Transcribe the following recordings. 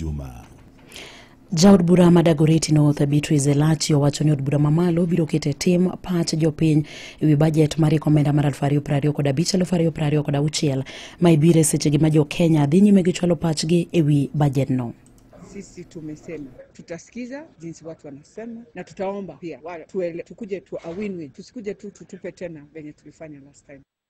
Juma. Jaod bura ma Dagoretti North Beatrice Elachi owacho ni od bura mamalo biro keto e tim pach jopiny e wi bajet mar rieko omenda mar 2020 kod abich 2020 kod auchiel ma ibiro e sechegi ma jo Kenya dhi nyime gi chwalo pachgi e wi bajedno. Sisi tumesema tutasikiza jinsi watu wanasema na tutaomba pia wale tuele, tukuje tu a win-win, tusikuje tu tutupe tena venye tulifanya last time.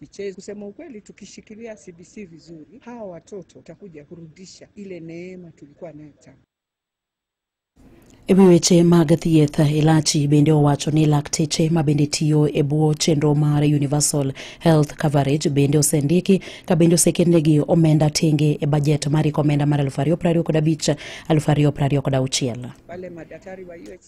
Michezo, kusema ukweli, tukishikilia CBC vizuri, hawa watoto watakuja kurudisha ile neema tulikuwa nayo tangu E wi weche mag thieth, Elachi bende owacho ni lakteche ma bende tiyo e bwo chenro mar Universal Health Coverage bende osendiki ka bende oseketnegi omenda tenge e bajet mar omenda mar 2025 2026. wale madaktari wa UHC